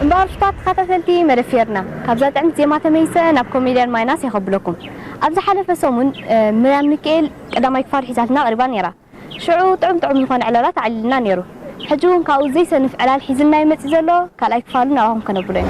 እምበኣር ሽፋር ተኻታተልቲ መደብ ፌርና ካብዛ ጥዕምቲ ዜማ ተመሊሰ ናብ ኮሜድያን ማይናስ የኸብለኩም። ኣብ ዝሓለፈ ሰሙን ምርያም ሚኪኤል ቀዳማይ ክፋል ሒዛትና ቀሪባ ኔራ። ሽዑ ጥዑም ጥዑም ዝኾነ ዕላላት ኣዕሊልና ኔሩ። ሕጂ ውን ካብኡ ዘይሰንፍ ዕላል ሒዝልና ዩ መጺኡ ዘሎ ካልኣይ ክፋሉ ናባኹም ከነብሎ ኢና።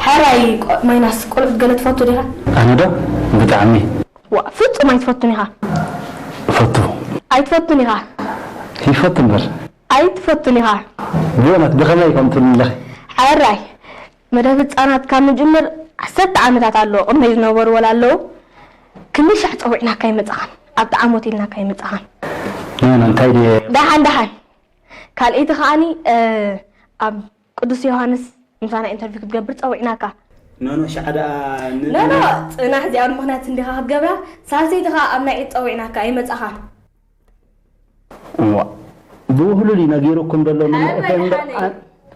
ሕራይ ቆ- ማይናስ ቆልዑት ገለ ትፈቱ ዲኻ ኣነ ዶ ብጣዕሚ ዋ ፍጹም ኣይትፈቱን ኢኻ እፈቱ ኣይትፈቱን ኢኻ ይፈቱ እምበር ኣይ ትፈቱን ኢኻ። ብእውነት ብኸመይ ከምኡ ትብሊ ኣለኺ? ሕራይ መደብ ህጻናት ካብ ንጅምር ዓሰርተ ዓመታት ኣሎ ቅድመይ ዝነበሩ ወላ ኣለዉ ክንደይ ሻዕ ጸዊዕናካ ኣይመጻኻን ኣብቲ ዓሞት ኢልናካ ኣይመጻኻን። ኖኖ እንታይ ድየ። ዳሓን ዳሓን ካልኤቲ ከኣኒ ኣብ ቅዱስ ዮሃንስ ምሳና ኢንተርቪው ክትገብር ጸዊዕናካ። ኖኖ ሽዓ ደኣ ን ኖኖ ጽናሕ እዚኣ ብምኽንያት እንዲኻ ክትገብራ ሳልሰይቲ ከኣ ኣብ ናይ ዒድ ጸዊዕናካ ኣይመጻኻን። እዋእ ብውህሉል እዩ ነጊሩኩም ዘሎ ንመእተዊ እምበር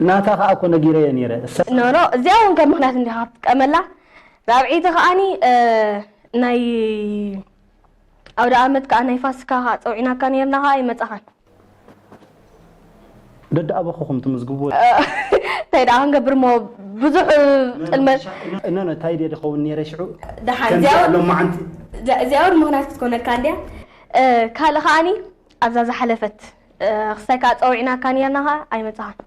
ናታ ከኣ እኮ ነጊረዮ ኔረ እሰይ። ኖኖ እዚኣ ውን ከም ምኽንያት እንዲኻ ክትጥቀመላ ራብዐይቲ ከኣኒ ናይ ኣውደኣመት ከኣ ናይ ፋሲካ ከኣ ጸዊዕናካ ኔርና ከኣ ኣይመጻኻን። ደድኣበኹኹም ትምዝግብዎ። እንታይ ደኣ ክንገብርሞ ብዙሕ ጥልመት። እኖኖ ታይ ድየ ድኸውን ኔረ ሽዑ ከምዚኣ ሎማዓንቲ። እዚኣ ውን ምኽንያት ክትኮነካ እንድያ። ካልእ ከኣኒ ኣብዛ ዝሓለፈት ክስታይ ከኣ ጸዊዕናካ ኔርና ከኣ ኣይመጻኻን።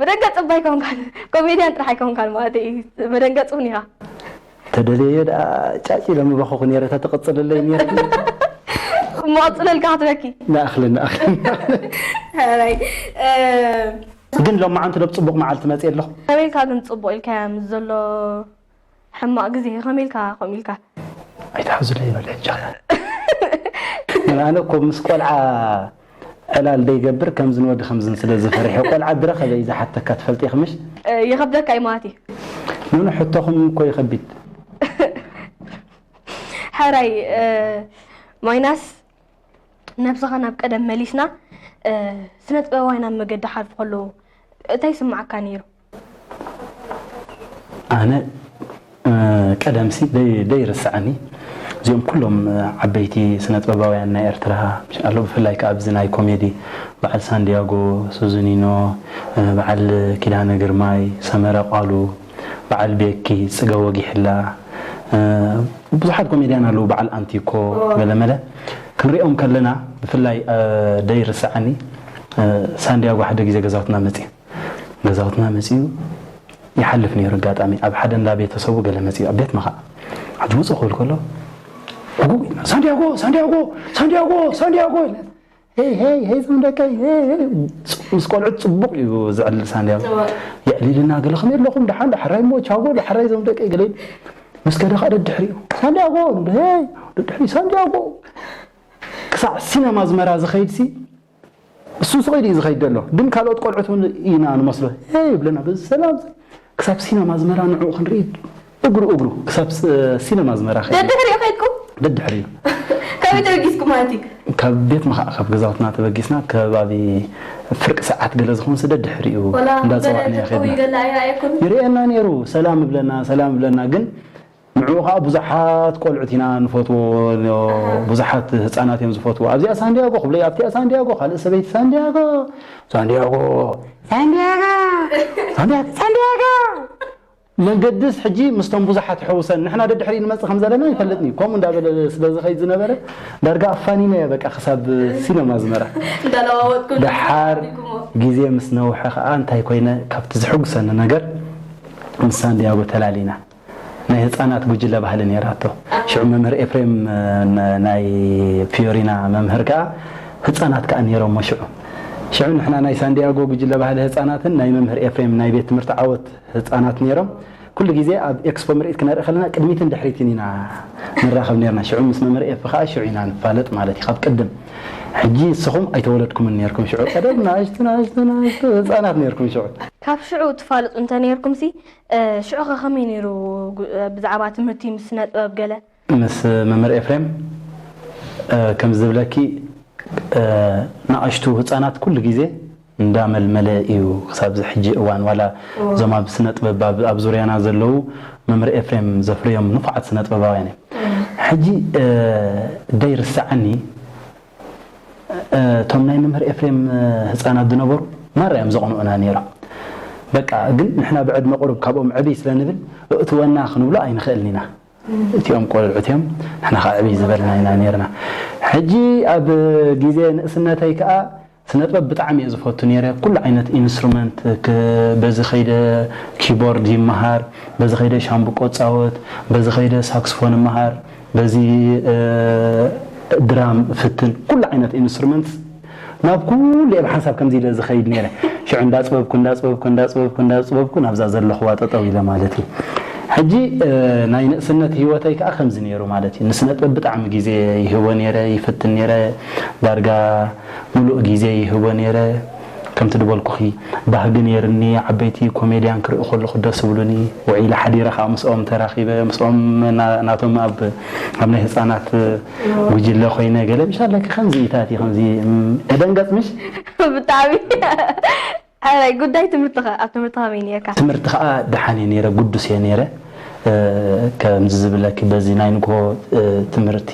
ብደንገጽ እባ ኣይኮንካን ኮሜድያን ጥራሕ ኣይኮንካን ማለተይ እዩ መደንገጽ ውን ኢኻ። ተደልየዮ ደኣ ጫጭ ኢለ ምበኸኹ ነይረ ተትቕጽልለይ ነይርኪ። እሞ ቀጽለልካ ክትበኪ። ንኣኽሊ ንኣኽሊ ንኣኽሊ። ግን ሎማዓንቲ ዶ ብጽቡቕ መዓልቲ መጽየ ኣለኹ? ከመይ ኢልካ ግን ጽቡቕ ኢልካያ ምስ ዘሎ ሕማቅ ግዜ ከምይ ኢልካ ከምኡ ኢልካ። ኣይትሓዙለይ በል ሕጂ ኸኣ። ኣነ እኮ ምስ ቆልዓ ዕላል ደይገብር ከምዝን ወዲ ከምዝን ስለ ዝፈሪሐ ቆልዓ ድረኸበ እዩ ዝሓተካ ትፈልጢ ኢኺ ምሽ። ይኸብደካ እዩ ማለት እዩ። ኖኖ ሕቶኹም እኮ ይኸቢድ። ሕራይ ማይናስ ነብስኻ ናብ ቀደም መሊስና ስነጥበባውያን ኣብ መገዲ ክሓልፉ ከለዉ እንታይ ይስምዓካ ኔሩ? ኣነ ቀደምሲ ዘይርስዓኒ እዚኦም ኩሎም ዓበይቲ ስነጥበባውያን ናይ ኤርትራ ኣሎ ብፍላይ ከኣ ኣብዚ ናይ ኮሜዲ በዓል ሳንድያጎ ሱዙኒኖ በዓል ኪዳነ ግርማይ ሰመረ ቃሉ በዓል ቤኪ ጽገ ወጊሕላ ብዙሓት ኮሜድያን ኣለዉ በዓል ኣንቲኮ ገለመለ ክንሪኦም ከለና ብፍላይ ዘይርስዓኒ ሳንድያጎ ሓደ ግዜ ገዛውትና መጽየ ገዛውትና መጺኡ ይሓልፍ ነይሩ ኣጋጣሚ ኣብ ሓደ እንዳ ቤተሰቡ ገለ መጺኡ ኣብ ቤትና ኸኣ ሕጂ ውጹእ ክብል ከሎ ጉጉ ኢልና ሳንዲያጎ ሳንዲያጎ ሳንዲያጎ ሳንዲያጎ ኢልና ሄይ ሄይ ሄይ ዞም ደቀይ ሄይ ሄይ ጽ- ምስ ቆልዑት ጽቡቕ እዩ ዝዕልል ሳንዲያጎ የዕሊልና ገለ ከመይ ኣለኹም ደሓን ዳሕራይ እሞ ቻጎ ዳሕራይ ዞም ደቀይ ገለ ኢሉ ምስ ከደ ኸኣ ደድሕሪኡ ሳንዲያጎ ንብሎ ሄይ ደድሕሪ ሳንዲያጎ ክሳዕ ሲነማ ኣዝመራ ዝኸይድሲ እሱ ስቕ ኢሉ እዩ ዝኸይድ ዘሎ ግን ካልኦት ቆልዑት እውን ኢና ንመስሎ ሄ ይብለና በዚ ሰላም እዚ ክሳብ ሲነማ ኣዝመራ ንዕኡ ክንርኢ እግሩ እግሩ ክሳብ ሲነማ ኣዝመራ ከይዱ ደድሕሪኡ ከይድኩም ደድሕሪኡ ከመይ ተበጊስኩም ማለት እዩ ካብ ቤትና ከዓ ካብ ገዛውትና ተበጊስና ከባቢ ፍርቂ ሰዓት ገለ ዝኾን ስደ ድሕሪኡ ወላ እንዳፀዋዕና ገለ ከድና ተጠውዩ ገለ ኣይረኣየኩን ይርእየና ነይሩ ሰላም ይብለና ሰላም ይብለና ግን ንዕኡ ከኣ ብዙሓት ቆልዑት ኢና ንፈትዎ ብዙሓት ህጻናት እዮም ዝፈትዎ ኣብዚኣ ሳንድያጎ ክብለይ ኣብቲኣ ሳንድያጎ ካልእ ሰበይቲ ሳንድያጎ ሳንድያጎ ሳንድያጎ ሳንድያጎ ሳንድያጎ መገድስ ሕጂ ምስቶም ብዙሓት ሕውሰን ንሕና ደድሕሪ ንመጽእ ከም ዘለና ይፈልጥኒ ከምኡ እንዳበለ ስለ ዝኸይድ ዝነበረ ዳርጋ ኣፋኒነ እየ በቃ ክሳብ ሲነማ ዝመራ ደሓር ግዜ ምስ ነውሐ ከኣ እንታይ ኮይነ ካብቲ ዝሕጉሰኒ ነገር ምስ ሳንድያጎ ተላሊና ናይ ህጻናት ጉጅለ ባህሊ ነይራቶ። ሽዑ መምህር ኤፍሬም ናይ ፍዮሪና መምህር ከኣ ህጻናት ከኣ ነይሮሞ ሽዑ። ሽዑ ንሕና ናይ ሳንድያጎ ጉጅለ ባህሊ ህጻናትን ናይ መምህር ኤፍሬም ናይ ቤት ትምህርቲ ዓወት ህጻናት ነይሮም። ኩሉ ግዜ ኣብ ኤክስፖ ምርኢት ክነርኢ ከለና ቅድሚትን ድሕሪትን ኢና ንራኸብ ነይርና። ሽዑ ምስ መምህር ኤፊ ከኣ ሽዑ ኢና ንፋለጥ ማለት እዩ ካብ ቅድም። ሕጂ እስኹም ኣይተወለድኩምን ነይርኩም ሽዑ ቀደም ንኣሽቱ ንኣሽቱ ንኣሽቱ ህጻናት ነይርኩም ሽዑ። ካብ ሽዑ ትፋለጡ እንተ ነይርኩምሲ ሽዑ ከ ከመይ ነይሩ ብዛዕባ ትምህርቲ ምስ ስነ ጥበብ ገለ? ምስ መምህር ኤፍሬም ከምዚ ዝብለኪ ናኣሽቱ ህጻናት ኩሉ ግዜ እንዳ መልመለ ኢዩ ክሳብ እዚ ሕጂ እዋን ዋላ እዞም ኣብ ስነ ጥበብ ኣብ ዙርያና ዘለዉ መምህር ኤፍሬም ዘፍርዮም ንፉዓት ስነ ጥበባውያን ኢዮም ሕጂ ደይ ርሰዓኒ እቶም ናይ መምህር ኤፍሬም ህጻናት ዝነበሩ ማራ እዮም ዘቕንኡና ኔሮም በቃ ግን ንሕና ብዕድመ ቁሩብ ካብኦም ዕብይ ስለ ንብል እእትወና ክንብሎ ኣይንኽእልን ኢና እቲኦም ቆልዑት እዮም ንሕና ከኣ ዕብይ ዝበልና ኢና ኔርና ሕጂ ኣብ ግዜ ንእስነተይ ከኣ ስነጥበብ ብጣዕሚ እየ ዝፈቱ ነይረ ኩሉ ዓይነት ኢንስትሩመንት በዚ ከይደ ኪቦርድ ይመሃር በዚ ከይደ ሻምብቆ እጻወት በዚ ከይደ ሳክስፎን እመሃር በዚ ድራም እፍትን ኩሉ ዓይነት ኢንስትሩመንትስ ናብ ኩሉ እየ ብሓንሳብ ከምዚ ኢለ ዝከይድ ነይረ ሽዑ እንዳጽበብኩ እንዳጽበብኩ እንዳጽበብኩ እንዳጽበብኩ ናብዛ ዘለክዋ ጠጠው ኢለ ማለት እዩ ሕጂ ናይ ንእስነት ሂወተይ ከኣ ከምዚ ነይሩ ማለት እዩ ንስነጥበብ ብጣዕሚ ግዜ ይህቦ ነይረ ይፍትን ነይረ ዳርጋ ምሉእ ግዜይ ይህቦ ኔረ ከምቲ ድበልኩኺ ባህጊ ኔርኒ ዓበይቲ ኮሜድያን ክርኢ ከለኹ ደስ እብሉኒ ውዒለ ሓዲረ ከኣ ምስኦም ተራኺበ ምስኦም ናቶም ኣብ ኣብ ናይ ህጻናት ጉጅለ ኮይነ ገለ ምሻለኪ ከምዚ ኢታቲ ከምዚ እደንገጽ ምሽ ብጣዕሚ ሕራይ ጉዳይ ትምህርትኸ ኣብ ትምህርቲ ከመይ ኔርካ? ትምህርቲ ከኣ ደሓን እየ ኔረ ግዱስ እየ ኔረ ከምዚ ዝብለኪ በዚ ናይ ንግሆ ትምህርቲ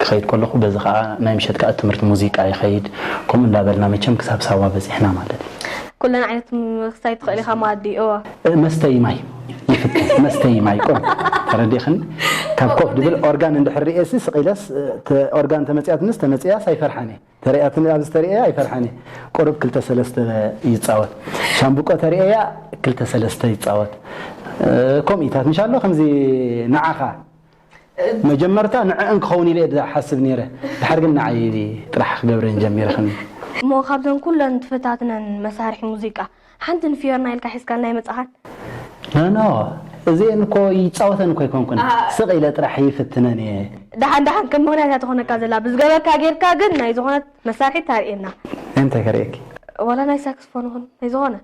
ክኸይድ ከለኹ በዚ ከኣ ናይ ምሸት ከኣ ትምህርቲ ሙዚቃ ይኸይድ ከምኡ እንዳ በልና መቸም ክሳብ ሳዋ በጺሕና ማለት እዩ። ኩለን ዓይነት ምክሳይ ትኽእል ኢኻ መኣዲ እወ። መስተዪ ማይ ይፍትን መስተዪ ማይ ቁሩብ ተረዲእኽኒ ካብ ኮፍ ድብል ኦርጋን እንድሕር ርእየሲ ስቕ ኢለስ ኦርጋን ተመጺኣትንስ ተመጺእያስ ኣይፈርሓን እየ። ተርእያትኒ ኣብ ዝተርእያ ኣይፈርሐን እየ ቁሩብ ክልተ ሰለስተ ይጻወት ሻምብቆ ተርእያ ክልተ ሰለስተ ይጻወት ኮምኢታት እንሻሎ ከምዚ ንዓኻ መጀመርታ ንዕእን ክኸውን ኢለ ዝሓስብ ነይረ ድሓር ግን ንዓይ ጥራሕ ክገብረን ጀሚረ ከም እሞ ካብዘን ኩለን ትፈታትነን መሳርሒ ሙዚቃ ሓንቲ ንፊዮርና ኢልካ ሒዝካልና ኣይመጻኻን። No no እዚኤን እኮ ይጻወተን እኮ ኣይኮንኩን ስቅ ኢለ ጥራሕ ይፍትነን እየ። ደሓን ደሓን ከም ምክንያት እያ ትኮነካ ዘላ ብዝገበርካ ጌርካ ግን ናይ ዝኮነት መሳርሒት ታርእየና። ናይ ምንታይ ከርእየኪ? ዋላ ናይ ሳክስፎን ይኹን ናይ ዝኾነ።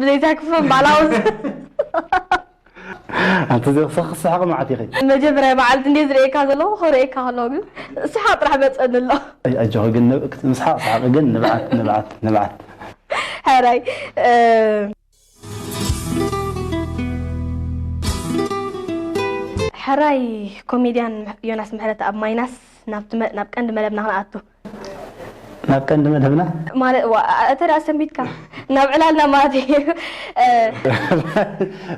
ብዘይ ሳክስፎን ባዕላ ወስ ኣንቲ እዚኣ ክሳብ ክትስሕቂ መዓት ኢኺ። መጀመርያ መዓልቲ እንድየ ዝርእየካ ዘለኹ ክርእየካ ከለኹ ግን ሰሓቅ ጥራሕ መጸኒ ኣሎ። ኣጆኺ ግን ምስሓቅ ስሓቂ ግን ንብዓት ንብዓት ንብዓት። ሕራይ። ሕራይ ኮሜድያን ዮናስ ምሕረተኣብ ማይናስ ናብ ቀንዲ መደብና ክንኣቱ። ናብ ቀንዲ መደብና። ማለት ዋ እተ ደኣ ሰንቢድካ ናብ ዕላልና ማለት እዩ።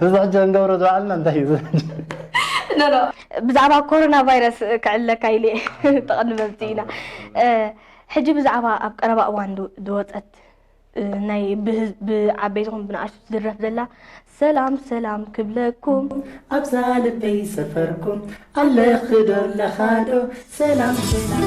እዚ ሕጂ ክንገብሮ ዝወዓልና እንታይ እዩ? ኖ ኖ ብዛዕባ ኮሮና ቫይረስ ክዕልለካ ኢለ እየ ተቐንበብቲ ኢና። ሕጂ ብዛዕባ ኣብ ቀረባ እዋን ዝወጸት ናይ ብዓበይቲ ይኹን ብንኣሽቱ ትድረፍ ዘላ ሰላም ሰላም ክብለኩም። ኣብዛ ልበይ ሰፈርኩም ኣለኺ ዶ ኣለኻ ዶ ሰላም ሰላም።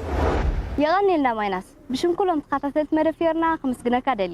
የቐንየልና ማይናስ ብሽም ኩሎም ተኻታተልቲ መደብ ፊዮርና ክምስግነካ ደሊ